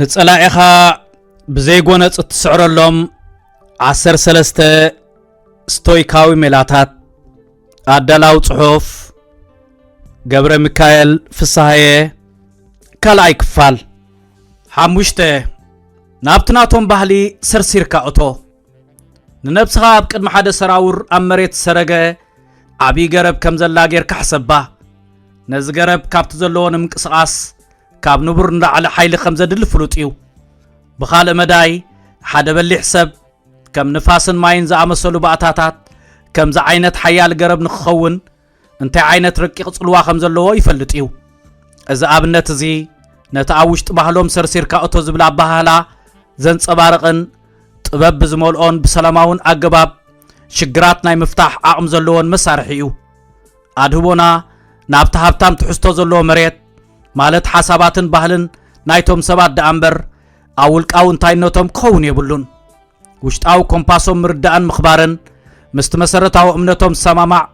ንጸላዒኻ ብዘይጎነጽ እትስዕረሎም ዓሰር ሰለስተ ስቶይካዊ ሜላታት ኣዳላዊ ጽሑፍ ገብረ ሚካኤል ፍስሃየ ካልኣይ ክፋል ሓሙሽተ ናብቲ ናቶም ባህሊ ሰርሲርካ እቶ ንነብስኻ ኣብ ቅድሚ ሓደ ሰራውር ኣብ መሬት ዝሰረገ ዓብዪ ገረብ ከም ዘላ ጌርካ ሕሰባ ነዚ ገረብ ካብቲ ዘለዎ ንምንቅስቓስ ካብ ንቡር ንላዕሊ ሓይሊ ከም ዘድሊ ፍሉጥ እዩ ብኻልእ መዳይ ሓደ በሊሕ ሰብ ከም ንፋስን ማይን ዝኣመሰሉ ባእታታት ከምዚ ዓይነት ሓያል ገረብ ንክኸውን እንታይ ዓይነት ረቂቕ ጽልዋ ከም ዘለዎ ይፈልጥ እዩ። እዚ ኣብነት እዚ ነቲ ኣብ ውሽጢ ባህሎም ሰርሲርካ እቶ ዝብል ኣበሃህላ ዘንጸባርቕን ጥበብ ብዝመልኦን ብሰላማውን ኣገባብ ሽግራት ናይ ምፍታሕ ዓቕሚ ዘለዎን መሳርሒ እዩ። ኣድህቦና ናብቲ ሃብታም ትሕዝቶ ዘለዎ መሬት ማለት ሓሳባትን ባህልን ናይቶም ሰባት ደኣ እምበር ኣብ ውልቃዊ እንታይነቶም ክኸውን የብሉን። ውሽጣዊ ኮምፓሶም ምርዳእን ምኽባርን ምስቲ መሰረታዊ እምነቶም ዝሰማማዕ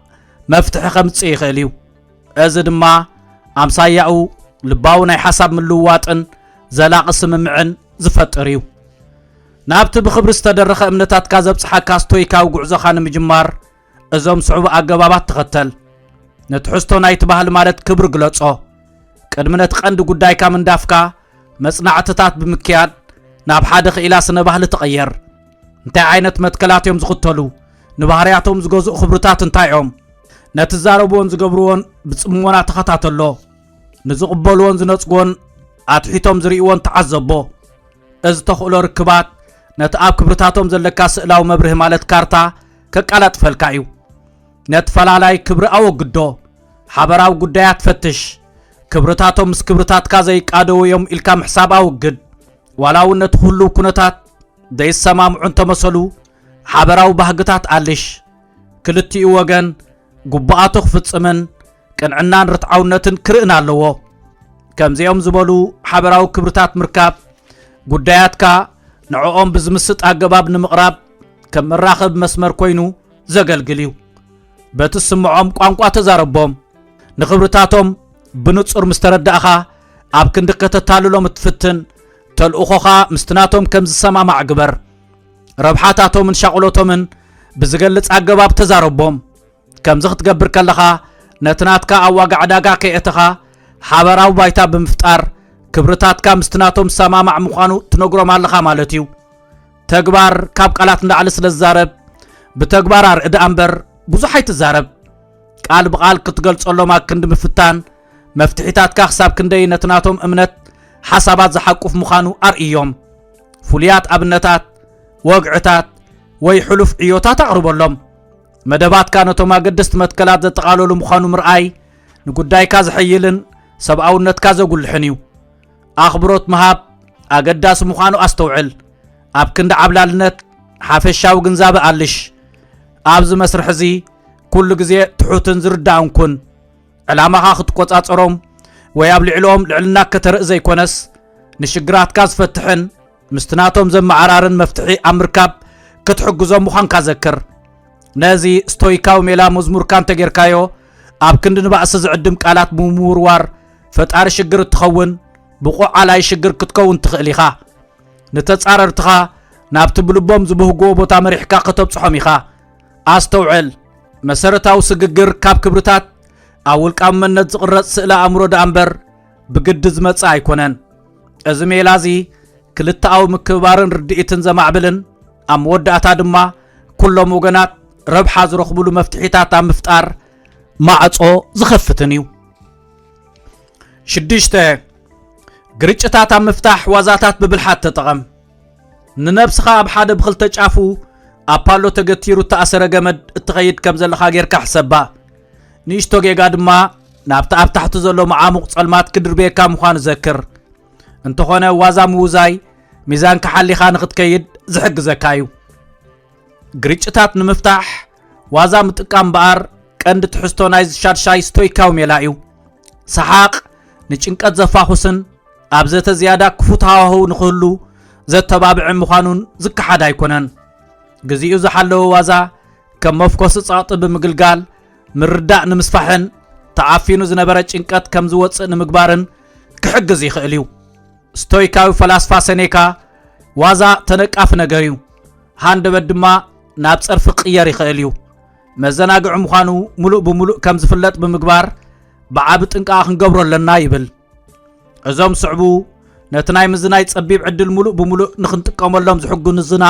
መፍትሒ ከምጽእ ይኽእል እዩ እዚ ድማ ኣምሳያኡ ልባዊ ናይ ሓሳብ ምልውዋጥን ዘላቒ ስምምዕን ዝፈጥር እዩ ናብቲ ብኽብሪ ዝተደረኸ እምነታትካ ዘብጽሓካ ስቶይካዊ ጉዕዞኻ ንምጅማር እዞም ዝስዕቡ ኣገባባት ተኸተል። ንትሕዝቶ ናይቲ ባህሊ ማለት ክብሪ ግለጾ። ቅድሚ ነቲ ቀንዲ ጉዳይካ ምንዳፍካ መጽናዕትታት ብምክያድ ናብ ሓደ ክኢላ ስነ ባህሊ ተቐየር። እንታይ ዓይነት መትከላት እዮም ዝኽተሉ? ንባህርያቶም ዝገዝኡ ክብርታት እንታይ እዮም? ነቲ ዝዛረብዎን ዝገብርዎን ብጽሞና ተኸታተሎ። ንዝቕበልዎን ዝነጽግዎን ኣትሒቶም ዝርእይዎን ተዓዘቦ። እዚ ተኽእሎ ርክባት ነቲ ኣብ ክብርታቶም ዘለካ ስእላዊ መብርሂ ማለት ካርታ ከቃላጥፈልካ እዩ። ነቲ ፈላላይ ክብሪ ኣወግዶ፣ ሓበራዊ ጉዳያት ፈትሽ፣ ክብርታቶም ምስ ክብርታትካ ዘይቃደዉ እዮም ኢልካ ምሕሳብ ኣወግድ፣ ዋላ እውን ነቲ ህሉው ኩነታት ዘይሰማምዑ እንተመሰሉ ሓበራዊ ባህግታት ኣልሽ፣ ክልቲኡ ወገን ግቡኣቱ ክፍጽምን ቅንዕናን ርትዓውነትን ክርእን ኣለዎ። ከምዚኦም ዝበሉ ሓበራዊ ክብርታት ምርካብ ጉዳያትካ ንዕኦም ብዝምስጥ ኣገባብ ንምቕራብ ከም መራኸቢ መስመር ኮይኑ ዘገልግል እዩ። በቲ ስምዖም ቋንቋ ተዛረቦም። ንኽብርታቶም ብንጹር ምስ ተረዳእኻ ኣብ ክንዲ ከተታልሎም እትፍትን ተልእኾኻ ምስቲ ናቶም ከም ዝሰማማዕ ግበር። ረብሓታቶምን ሻቕሎቶምን ብዝገልጽ ኣገባብ ተዛረቦም። ከምዚ ክትገብር ከለኻ ነቲ ናትካ ኣብ ዋጋ ዕዳጋ ከየእተኻ ሓበራዊ ባይታ ብምፍጣር ክብርታትካ ምስቲ ናቶም ዝሰማማዕ ምዃኑ ትነግሮም ኣለኻ ማለት እዩ ተግባር ካብ ቃላት ንላዕሊ ስለ ዝዛረብ ብተግባር ኣርእዳ እምበር ብዙሕ ኣይትዛረብ ቃል ብቓል ክትገልጸሎም ኣክንዲ ምፍታን መፍትሒታትካ ክሳብ ክንደይ ነቲ ናቶም እምነት ሓሳባት ዝሓቁፍ ምዃኑ ኣርእዮም ፍሉያት ኣብነታት ወግዕታት ወይ ሕሉፍ ዕዮታት ኣቕርበሎም መደባትካ ነቶም ኣገደስቲ መትከላት ዘጠቓለሉ ምዃኑ ምርኣይ ንጉዳይካ ዝሕይልን ሰብኣውነትካ ዘጉልሕን እዩ ኣኽብሮት ምሃብ ኣገዳሲ ምዃኑ ኣስተውዕል ኣብ ክንዲ ዓብላልነት ሓፈሻዊ ግንዛበ ኣልሽ ኣብዚ መስርሕ እዚ ኩሉ ግዜ ትሑትን ዝርዳእን ኩን ዕላማኻ ክትቆጻጸሮም ወይ ኣብ ልዕልኦም ልዕልና ከተርኢ ዘይኮነስ ንሽግራትካ ዝፈትሕን ምስቲ ናቶም ዘመዓራርን መፍትሒ ኣብ ምርካብ ክትሕግዞም ምዃንካ ዘክር ነዚ ስቶይካዊ ሜላ መዝሙርካ እንተጌርካዮ ኣብ ክንዲ ንባእሲ ዝዕድም ቃላት ብምውርዋር ፈጣሪ ሽግር እትኸውን ብቑዕ ዓላይ ሽግር ክትከውን ትኽእል ኢኻ ንተጻረርትኻ ናብቲ ብልቦም ዝብህግዎ ቦታ መሪሕካ ከተብጽሖም ኢኻ ኣስተውዕል መሰረታዊ ስግግር ካብ ክብርታት ኣብ ውልቃዊ መነት ዝቕረጽ ስእለ ኣእምሮ ደኣ እምበር ብግዲ ዝመጽእ ኣይኮነን። እዚ ሜላ እዚ ክልተኣዊ ምክብባርን ርድኢትን ዘማዕብልን ኣብ መወዳእታ ድማ ኩሎም ወገናት ረብሓ ዝረኽብሉ መፍትሒታት ኣብ ምፍጣር ማዕጾ ዝኸፍትን እዩ። ሽዱሽተ ግርጭታት ኣብ ምፍታሕ ዋዛታት ብብልሓት ተጠቐም። ንነብስኻ ኣብ ሓደ ብኽልተ ጫፉ ኣብ ፓሎ ተገቲሩ እተኣሰረ ገመድ እትኸይድ ከም ዘለኻ ጌርካ ሕሰባ። ንእሽቶ ጌጋ ድማ ናብቲ ኣብ ታሕቲ ዘሎ መዓሙቕ ጸልማት ክድርብየካ ምዃኑ ዘክር። እንተኾነ ዋዛ ምውዛይ ሚዛንካ ሓሊኻ ንኽትከይድ ዝሕግዘካ እዩ። ግርጭታት ንምፍታሕ ዋዛ ምጥቃም እምበኣር ቀንዲ ትሕዝቶ ናይዚ ሻድሻይ ስቶይካዊ ሜላ እዩ። ሰሓቕ ንጭንቀት ዘፋኹስን ኣብ ዘተ ዝያዳ ክፉት ሃዋህው ንኽህሉ ዘተባብዕን ምዃኑን ዝከሓድ ኣይኮነን። ግዚኡ ዝሓለወ ዋዛ ከም መፍኮሲ ጸቕጢ ብምግልጋል ምርዳእ ንምስፋሕን ተዓፊኑ ዝነበረ ጭንቀት ከም ዝወጽእ ንምግባርን ክሕግዝ ይኽእል እዩ። ስቶይካዊ ፈላስፋ ሰኔካ ዋዛ ተነቃፊ ነገር እዩ። ሃንደበት ድማ ናብ ጸርፊ ክቕየር ይኽእል እዩ። መዘናግዒ ምዃኑ ምሉእ ብምሉእ ከም ዝፍለጥ ብምግባር ብዓቢ ጥንቃቐ ክንገብሮ ኣለና ይብል። እዞም ዝስዕቡ ነቲ ናይ ምዝናይ ጸቢብ ዕድል ምሉእ ብምሉእ ንኽንጥቀመሎም ዝሕግዙና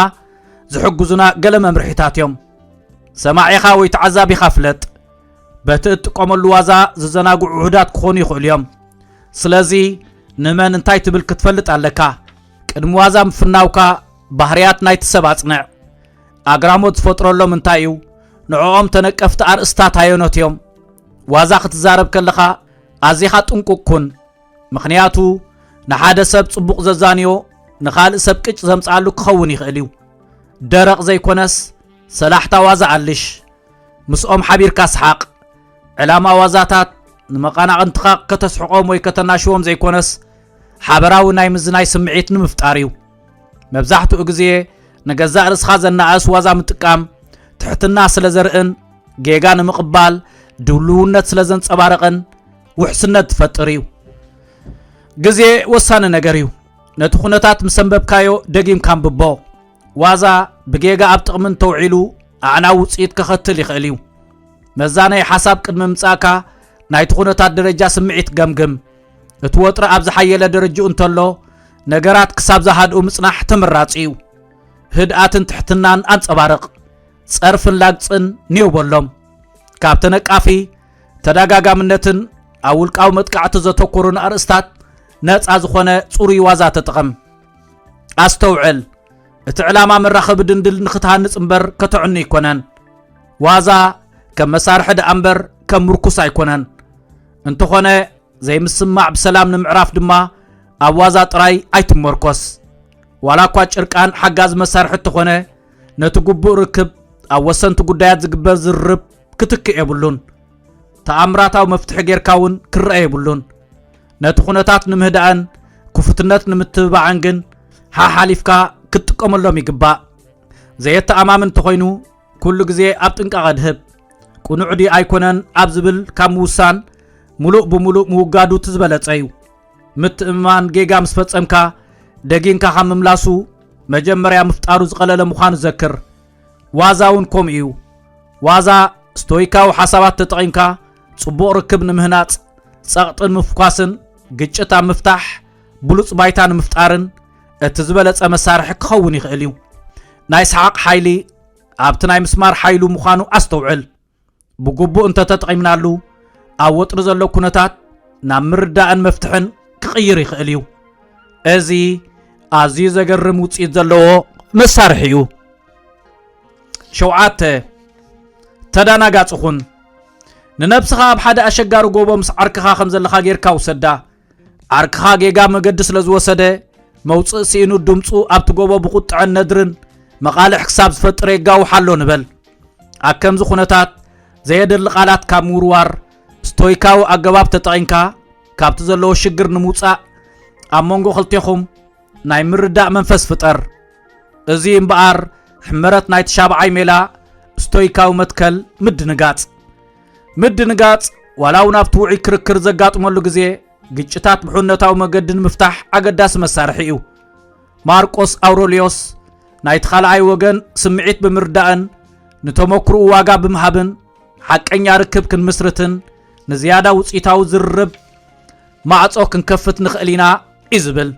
ዝሕግዙና ገለ መምርሒታት እዮም። ሰማዒኻ ወይ ተዓዛቢኻ ፍለጥ። በቲ እትጥቀመሉ ዋዛ ዝዘናግዑ ውሑዳት ክኾኑ ይኽእሉ እዮም። ስለዚ ንመን እንታይ ትብል ክትፈልጥ ኣለካ። ቅድሚ ዋዛ ምፍናውካ ባህርያት ናይቲ ሰብ ኣጽንዕ። ኣግራሞት ዝፈጥረሎም እንታይ እዩ? ንዕኦም ተነቀፍቲ ኣርእስታት ኣየኖት እዮም? ዋዛ ክትዛረብ ከለኻ ኣዚኻ ጥንቁቕ ኩን። ምኽንያቱ ንሓደ ሰብ ጽቡቕ ዘዛንዮ ንኻልእ ሰብ ቅጭ ዘምጽኣሉ ክኸውን ይኽእል እዩ። ደረቕ ዘይኮነስ ሰላሕታ ዋዛ ኣልሽ። ምስኦም ሓቢርካ ስሓቕ። ዕላማ ዋዛታት ንመቐናቕንትኻ ከተስሕቖም ወይ ከተናሽዎም ዘይኮነስ ሓበራዊ ናይ ምዝናይ ስምዒት ንምፍጣር እዩ። መብዛሕትኡ ግዜ ንገዛእ ርእስኻ ዘናኣእስ ዋዛ ምጥቃም ትሕትና ስለ ዘርእን ጌጋ ንምቕባል ድልውነት ስለ ዘንጸባርቕን ውሕስነት ትፈጥር እዩ። ግዜ ወሳኒ ነገር እዩ። ነቲ ኩነታት ምስ ኣንበብካዮ ደጊምካ ኣንብቦ። ዋዛ ብጌጋ ኣብ ጥቕሚ እንተውዒሉ ኣዕናዊ ውጽኢት ከኸትል ይኽእል እዩ። መዛነዪ ሓሳብ ቅድሚ ምምጻእካ ናይቲ ኩነታት ደረጃ ስምዒት ገምግም። እቲ ወጥሪ ኣብ ዝሓየለ ደረጅኡ እንተሎ ነገራት ክሳብ ዝሃድኡ ምጽናሕ ተመራጺ እዩ። ህድኣትን ትሕትናን ኣንጸባርቕ። ጸርፍን ላግጽን ኔው በሎም። ካብ ተነቃፊ ተደጋጋምነትን ኣብ ውልቃዊ መጥቃዕቲ ዘተኮሩን ኣርእስታት ነፃ ዝኾነ ጽሩይ ዋዛ ተጠቐም። ኣስተውዕል፣ እቲ ዕላማ መራኸቢ ድንድል ንኽትሃንጽ እምበር ከተዕኑ ኣይኮነን። ዋዛ ከም መሳርሒ ደኣ እምበር ከም ምርኩስ ኣይኮነን። እንተኾነ ዘይምስምማዕ ብሰላም ንምዕራፍ ድማ ኣብ ዋዛ ጥራይ ኣይትመርኮስ ዋላ እኳ ጭርቃን ሓጋዚ መሳርሒ እተኾነ ነቲ ግቡእ ርክብ ኣብ ወሰንቲ ጉዳያት ዝግበር ዝርርብ ክትክእ የብሉን ተኣምራታዊ መፍትሒ ጌርካ እውን ክረአ የብሉን ነቲ ኩነታት ንምህዳእን ክፉትነት ንምትብባዕን ግን ሓሓሊፍካ ክትጥቀመሎም ይግባእ ዘየተኣማምን እንተኾይኑ ኩሉ ግዜ ኣብ ጥንቃቐ ድህብ ቁኑዕ ድዩ ኣይኮነን ኣብ ዝብል ካብ ምውሳን ሙሉእ ብሙሉእ ምውጋዱ እቲ ዝበለጸ እዩ። ምትእምማን ጌጋ ምስ ፈጸምካ ደጊንካ ካብ ምምላሱ መጀመርያ ምፍጣሩ ዝቐለለ ምዃኑ ዘክር። ዋዛ እውን ከምኡ እዩ። ዋዛ ስቶይካዊ ሓሳባት ተጠቒምካ ጽቡቕ ርክብ ንምህናጽ፣ ጸቕጢ ንምፍኳስን ግጭት ኣብ ምፍታሕ ብሉጽ ባይታ ንምፍጣርን እቲ ዝበለጸ መሳርሒ ክኸውን ይኽእል እዩ። ናይ ሰሓቕ ሓይሊ ኣብቲ ናይ ምስማር ሓይሉ ምዃኑ ኣስተውዕል። ብግቡእ እንተተጠቒምናሉ ኣብ ወጥሪ ዘሎ ኩነታት ናብ ምርዳእን መፍትሕን ክቕይር ይኽእል እዩ። እዚ ኣዝዩ ዘገርም ውፅኢት ዘለዎ መሳርሒ እዩ። ሸውዓተ ተዳናጋጽ ኹን ንነብስኻ ኣብ ሓደ ኣሸጋሪ ጎቦ ምስ ዓርክኻ ከም ዘለኻ ጌርካ ውሰዳ። ዓርክኻ ጌጋ መገዲ ስለ ዝወሰደ መውፅእ ስኢኑ ድምፁ ኣብቲ ጎቦ ብቁጥዐን ነድርን መቓልሕ ክሳብ ዝፈጥር የጋውሕ ኣሎ ንበል ኣብ ከምዚ ኩነታት ዘየደሊ ቃላት ካብ ምውርዋር ስቶይካዊ ኣገባብ ተጠቒምካ ካብቲ ዘለዎ ሽግር ንምውፃእ ኣብ መንጎ ክልቴኹም ናይ ምርዳእ መንፈስ ፍጠር እዚ እምበኣር ሕመረት ናይ ተሻብዓይ ሜላ ስቶይካዊ መትከል ምድንጋፅ ምድንጋጽ ዋላ እውን ኣብቲ ውዑይ ክርክር ዘጋጥመሉ ግዜ ግጭታት ብሕነታዊ መገዲ ንምፍታሕ ኣገዳሲ መሳርሒ እዩ ማርቆስ ኣውሮልዮስ ናይቲ ካልኣይ ወገን ስምዒት ብምርዳእን ንተመክርኡ ዋጋ ብምሃብን ሓቀኛ ርክብ ክንምስርትን ንዝያዳ ውፅኢታዊ ዝርርብ ማዕፆ ክንከፍት ንኽእል ኢና እዩ ዝብል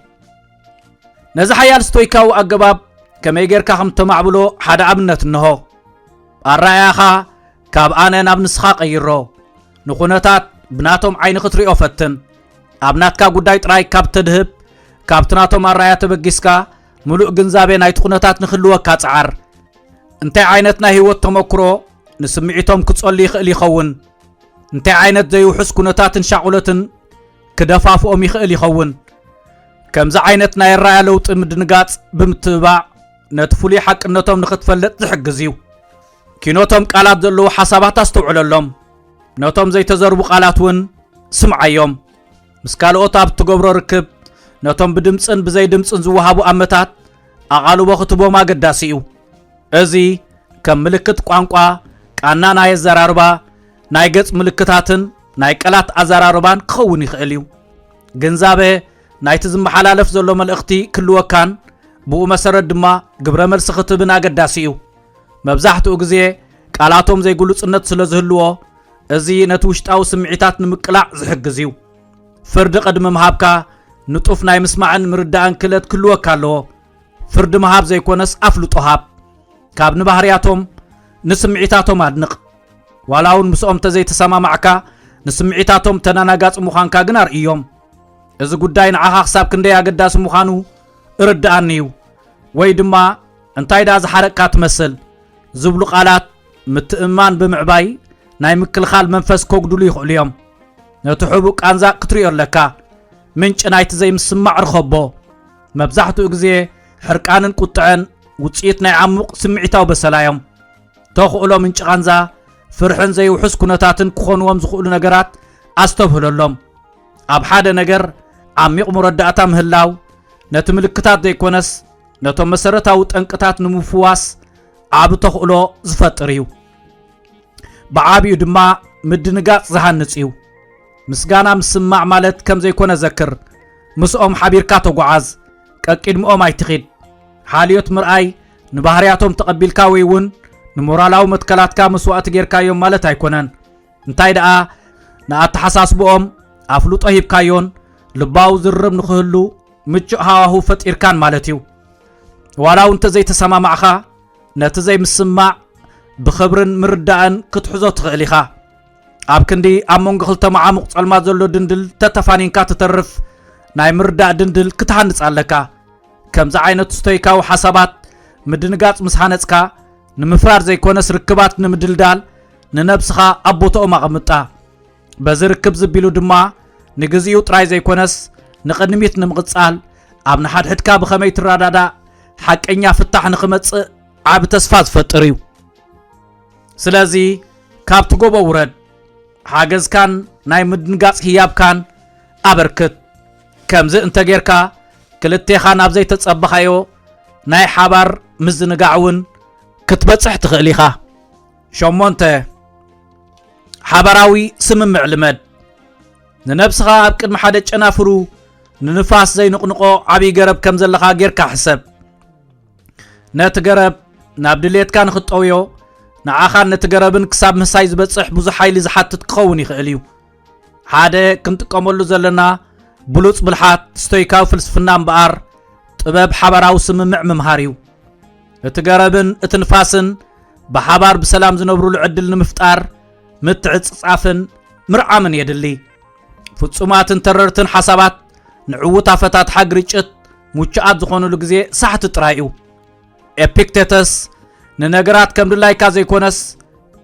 ነዚ ሓያል ስቶይካዊ ኣገባብ ከመይ ጌርካ ከም ተማዕብሎ ሓደ ኣብነት እንሆ ኣረኣያኻ ካብ ኣነ ናብ ንስኻ ቀይሮ ንኹነታት ብናቶም ዓይኒ ክትሪኦ ፈትን ኣብ ናትካ ጉዳይ ጥራይ ካብ ተድህብ ካብቲ ናቶም ኣረኣያ ተበጊስካ ምሉእ ግንዛቤ ናይቲ ኩነታት ንክህልወካ ጸዓር እንታይ ዓይነት ናይ ህይወት ተመክሮ ንስምዒቶም ክጸሉ ይኽእል ይኸውን እንታይ ዓይነት ዘይውሑስ ኩነታትን ሻቑለትን ክደፋፍኦም ይኽእል ይኸውን። ከምዚ ዓይነት ናይ ኣራያ ለውጢ ምድንጋጽ ብምትብባዕ ነቲ ፍሉይ ሓቅነቶም ንኽትፈልጥ ዝሕግዝ እዩ። ኪኖቶም ቃላት ዘለዉ ሓሳባት ኣስተውዕለሎም። ነቶም ዘይተዘርቡ ቃላት እውን ስምዓዮም። ምስ ካልኦት ኣብ እትገብሮ ርክብ ነቶም ብድምፅን ብዘይ ድምፅን ዝወሃቡ ኣመታት ኣቓልቦ ክትቦም ኣገዳሲ እዩ። እዚ ከም ምልክት ቋንቋ ቃና ናይ ኣዘራርባ ናይ ገጽ ምልክታትን ናይ ቀላት ኣዘራርባን ክኸውን ይኽእል እዩ። ግንዛበ ናይቲ ዝመሓላለፍ ዘሎ መልእኽቲ ክልወካን ብኡ መሰረት ድማ ግብረ መልሲ ክትብን ኣገዳሲ እዩ። መብዛሕትኡ ግዜ ቃላቶም ዘይግሉጽነት ስለ ዝህልዎ እዚ ነቲ ውሽጣዊ ስምዒታት ንምቅላዕ ዝሕግዝ እዩ። ፍርዲ ቅድሚ ምሃብካ ንጡፍ ናይ ምስማዕን ምርዳእን ክእለት ክህልወካ ኣለዎ። ፍርዲ ምሃብ ዘይኮነስ ኣፍልጦ ሃብ። ካብ ንባህርያቶም ንስምዒታቶም ኣድንቕ። ዋላ እውን ምስኦም እንተዘይተሰማማዕካ ንስምዒታቶም ተዳናጋፂ ምዃንካ ግን ኣርእዮም እዚ ጉዳይ ንዓኻ ክሳብ ክንደይ ኣገዳሲ ምዃኑ እርድኣኒ እዩ ወይ ድማ እንታይ ደኣ ዝሓረቅካ ትመስል ዝብሉ ቃላት ምትእምማን ብምዕባይ ናይ ምክልኻል መንፈስ ከጉድሉ ይኽእሉ እዮም ነቲ ሕቡእ ቃንዛ ክትሪኦ ኣለካ ምንጭ ናይቲ ዘይምስማዕ ርኸቦ መብዛሕትኡ ግዜ ሕርቃንን ቁጥዐን ውፅኢት ናይ ዓሙቕ ስምዒታዊ በሰላ እዮም ተኽእሎ ምንጪ ቃንዛ፣ ፍርሕን ዘይውሑስ ኩነታትን ክኾንዎም ዝኽእሉ ነገራት ኣስተብህለሎም። ኣብ ሓደ ነገር ዓሚቕ መረዳእታ ምህላው፣ ነቲ ምልክታት ዘይኮነስ ነቶም መሰረታዊ ጠንቅታት ንምፍዋስ ዓቢ ተኽእሎ ዝፈጥር እዩ። ብዓቢኡ ድማ ምድንጋጽ ዝሃንጽ እዩ። ምስጋና ምስማዕ ማለት ከም ዘይኮነ ዘክር። ምስኦም ሓቢርካ ተጓዓዝ፣ ቀቂድምኦም ኣይትኺድ። ሓልዮት ምርኣይ ንባህርያቶም ተቐቢልካ ወይ እውን ንሞራላዊ መትከላትካ መስዋእቲ ጌርካዮም ማለት ኣይኮነን። እንታይ ደኣ ንኣተሓሳስብኦም ኣፍልጦ ሂብካዮን ልባዊ ዝርርብ ንኽህሉ ምቹእ ሃዋሁ ፈጢርካን ማለት እዩ። ዋላ እውን እንተዘይተሰማማዕኻ ነቲ ዘይምስማዕ ብኽብርን ምርዳእን ክትሕዞ ትኽእል ኢኻ። ኣብ ክንዲ ኣብ መንጎ ክልተ መዓሙቕ ጸልማት ዘሎ ድንድል ተተፋኒንካ ትተርፍ ናይ ምርዳእ ድንድል ክትሃንጽ ኣለካ። ከምዚ ዓይነት ስቶይካዊ ሓሳባት ምድንጋጽ ምስ ሃነጽካ ንምፍራር ዘይኮነስ ርክባት ንምድልዳል ንነብስኻ ኣብ ቦታኦም ኣቐምጣ በዚ ርክብ ዝቢሉ ድማ ንግዚኡ ጥራይ ዘይኮነስ ንቕድሚት ንምቕጻል ኣብ ንሓድሕድካ ብኸመይ ትረዳዳእ ሓቀኛ ፍታሕ ንኽመጽእ ዓብ ተስፋ ዝፈጥር እዩ ስለዚ ካብቲ ጎቦ ውረድ ሓገዝካን ናይ ምድንጋጽ ህያብካን ኣበርክት ከምዚ እንተ ጌርካ ክልቴኻ ናብ ዘይተጸበኻዮ ናይ ሓባር ምዝንጋዕ እውን ክትበጽሕ ትኽእል ኢኻ። ሸሞንተ፣ ሓባራዊ ስምምዕ ልመድ። ንነብስኻ ኣብ ቅድሚ ሓደ ጨናፍሩ ንንፋስ ዘይንቕንቖ ዓብዪ ገረብ ከም ዘለኻ ጌርካ ሕሰብ። ነቲ ገረብ ናብ ድሌትካ ንኽትጠውዮ ንዓኻን ነቲ ገረብን ክሳብ ምህሳይ ዝበጽሕ ብዙሕ ሓይሊ ዝሓትት ክኸውን ይኽእል እዩ። ሓደ ክንጥቀመሉ ዘለና ብሉጽ ብልሓት ስቶይካዊ ፍልስፍና እምበኣር ጥበብ ሓባራዊ ስምምዕ ምምሃር እዩ እቲ ገረብን እቲ ንፋስን ብሓባር ብሰላም ዝነብሩሉ ዕድል ንምፍጣር ምትዕጽጻፍን ምርዓምን የድሊ ፍጹማትን ተረርትን ሓሳባት ንዕዉት ኣፈታትሓ ግርጭት ሙቹኣት ዝኾኑሉ ግዜ ሳሕቲ ጥራይ እዩ ኤፒክቴተስ ንነገራት ከም ድላይካ ዘይኮነስ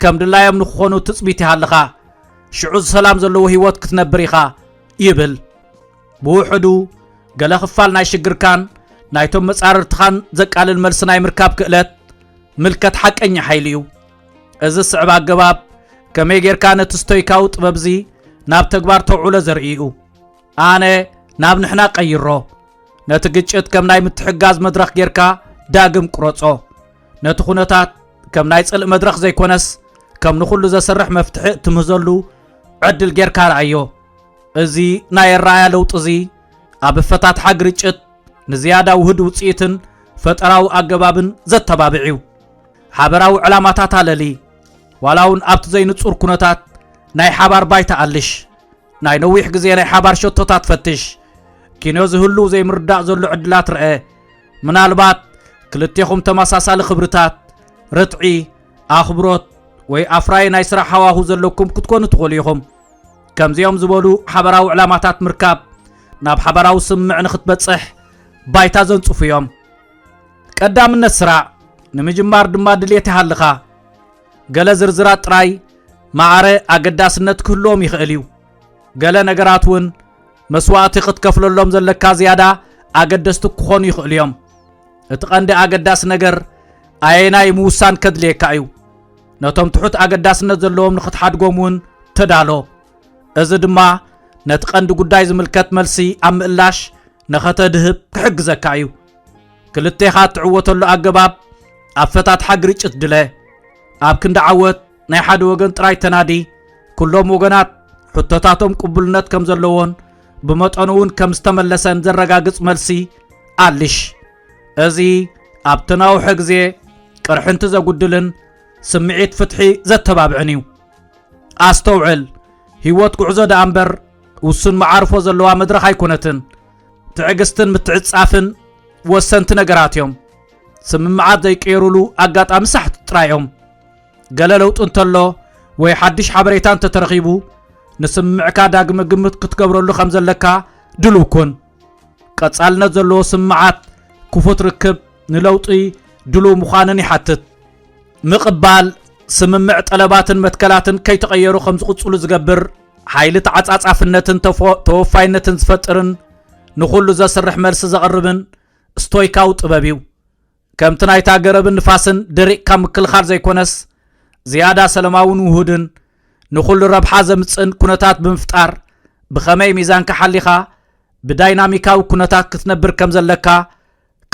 ከም ድላዮም ንክኾኑ ትጽቢት ይሃልኻ ሽዑ ሰላም ዘለዎ ህይወት ክትነብር ኢኻ ይብል ብውሕዱ ገለ ክፋል ናይ ሽግርካን ናይቶም መጻርርትኻን ዘቃልል መልሲ ናይ ምርካብ ክእለት ምልከት ሓቀኛ ሓይሊ እዩ እዚ ስዕብ ኣገባብ ከመይ ጌርካ ነቲ ስቶይካዊ ጥበብዚ ናብ ተግባር ተውዕሎ ዘርኢ እዩ ኣነ ናብ ንሕና ቀይሮ። ነቲ ግጭት ከም ናይ ምትሕጋዝ መድረኽ ጌርካ ዳግም ቁረጾ። ነቲ ኩነታት ከም ናይ ጽልእ መድረኽ ዘይኮነስ ከም ንኹሉ ዘስርሕ መፍትሒ እትምህዘሉ ዕድል ጌርካ ረኣዮ። እዚ ናይ ኣረኣያ ለውጢ እዚ ኣብ ኣፈታትሓ ግርጭት ንዝያዳ ውህድ ውጽኢትን ፈጠራዊ ኣገባብን ዘተባብዕ እዩ። ሓበራዊ ዕላማታት ኣለሊ። ዋላ እውን ኣብቲ ዘይንጹር ኩነታት ናይ ሓባር ባይታ ኣልሽ። ናይ ነዊሕ ግዜ ናይ ሓባር ሸቶታት ፈትሽ። ኪኖ ዝህሉ ዘይምርዳእ ዘሎ ዕድላት ርአ። ምናልባት ክልቴኹም ተመሳሳሊ ክብርታት፣ ርትዒ፣ ኣኽብሮት ወይ ኣፍራዪ ናይ ስራሕ ሃዋሁ ዘለኩም ክትኮኑ ትኽእሉ ኢኹም። ከምዚኦም ዝበሉ ሓበራዊ ዕላማታት ምርካብ ናብ ሓበራዊ ስምምዕ ንክትበጽሕ ባይታ ዘንጽፉ እዮም። ቀዳምነት ስራዕ ንምጅማር ድማ ድሌት ይሃልኻ። ገለ ዝርዝራት ጥራይ ማዕረ ኣገዳስነት ክህልዎም ይኽእል እዩ። ገለ ነገራት እውን መስዋእቲ ክትከፍለሎም ዘለካ ዝያዳ ኣገደስቲ ክኾኑ ይኽእሉ እዮም። እቲ ቀንዲ ኣገዳሲ ነገር ኣየናይ ምውሳን ከድልየካ እዩ። ነቶም ትሑት ኣገዳስነት ዘለዎም ንኽትሓድጎም እውን ተዳሎ። እዚ ድማ ነቲ ቀንዲ ጉዳይ ዝምልከት መልሲ ኣብ ምእላሽ ነኸተድህብ ክሕግዘካ እዩ። ክልቴኻ እትዕወተሉ ኣገባብ ኣፈታትሓ ግርጭት ድለ ኣብ ክንዲ ዓወት ናይ ሓደ ወገን ጥራይ ተናዲ ኩሎም ወገናት ሕቶታቶም ቅቡልነት ከም ዘለዎን ብመጠኑ እውን ከም ዝተመለሰን ዘረጋግጽ መልሲ ኣልሽ እዚ ኣብ ተናውሐ ግዜ ቅርሕንቲ ዘጉድልን ስምዒት ፍትሒ ዘተባብዕን እዩ ኣስተውዕል ህይወት ጉዕዞ ደኣ እምበር ውሱን መዓርፎ ዘለዋ መድረኽ ኣይኮነትን ትዕግስትን ምትዕጻፍን ወሰንቲ ነገራት እዮም ስምምዓት ዘይቀየሩሉ ኣጋጣሚ ሳሕቲ ጥራይ እዮም ገለ ለውጢ እንተሎ ወይ ሓድሽ ሓበሬታ እንተተረኺቡ ንስምምዕካ ዳግመ ግምት ክትገብረሉ ከም ዘለካ ድልው ኩን ቀጻልነት ዘለዎ ስምምዓት ክፉት ርክብ ንለውጢ ድልው ምዃንን ይሓትት ምቕባል ስምምዕ ጠለባትን መትከላትን ከይተቐየሩ ከም ዝቕጽሉ ዝገብር ሓይሊ ተዓጻጻፍነትን ተወፋይነትን ዝፈጥርን ንኹሉ ዘስርሕ መልሲ ዘቕርብን ስቶይካዊ ጥበብ እዩ ከምቲ ናይታ ገረብን ንፋስን ደሪቕካ ምክልኻል ዘይኮነስ ዝያዳ ሰለማውን ውሁድን ንኹሉ ረብሓ ዘምፅእን ኩነታት ብምፍጣር ብኸመይ ሚዛንካ ሓሊኻ ብዳይናሚካዊ ኩነታት ክትነብር ከም ዘለካ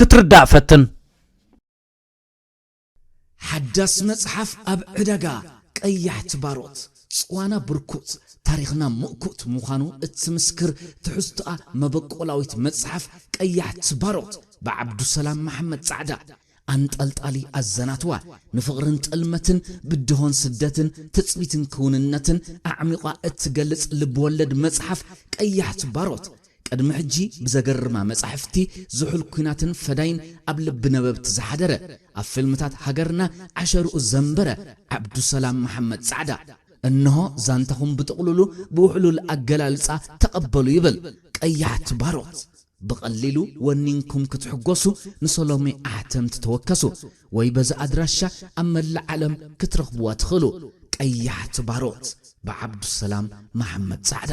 ክትርዳእ ፈትን ሓዳስ መጽሓፍ ኣብ ዕዳጋ ቀያሕቲ ባሮት፣ ጽዋና ብርኩት፣ ታሪኽና ምእኩት ምዃኑ እትምስክር ትሕዝቶኣ መበቆላዊት መጽሓፍ ቀያሕቲ ባሮት ብዓብዱሰላም መሓመድ ጻዕዳ፣ ኣንጠልጣሊ ኣዘናትዋ ንፍቕርን ጥልመትን፣ ብድሆን ስደትን፣ ትጽቢትን ክውንነትን ኣዕሚቋ እትገልጽ ልብ-ወለድ መጽሓፍ ቀያሕቲ ባሮት፣ ቅድሚ ሕጂ ብዘገርማ መጻሕፍቲ ዝሑል ኩናትን ፈዳይን ኣብ ልቢ ነበብቲ ዝሓደረ፣ ኣብ ፊልምታት ሃገርና ዓሸርኡ ዘንበረ ዓብዱሰላም መሓመድ ጻዕዳ፣ እንሆ ዛንታኹም ብጥቕሉሉ ብውሕሉል ኣገላልጻ ተቐበሉ ይብል። ቀያሕቲ ባሮት! ብቐሊሉ ወኒንኩም ክትሕጎሱ ንሰሎሜ ኣሕተምቲ ተወከሱ ወይ በዚ ኣድራሻ ኣብ መላእ ዓለም ክትረኽቡዋ ትኽእሉ። ቀያሕቲ ባሮት! ብዓብዱሰላም መሓመድ ጻዕዳ።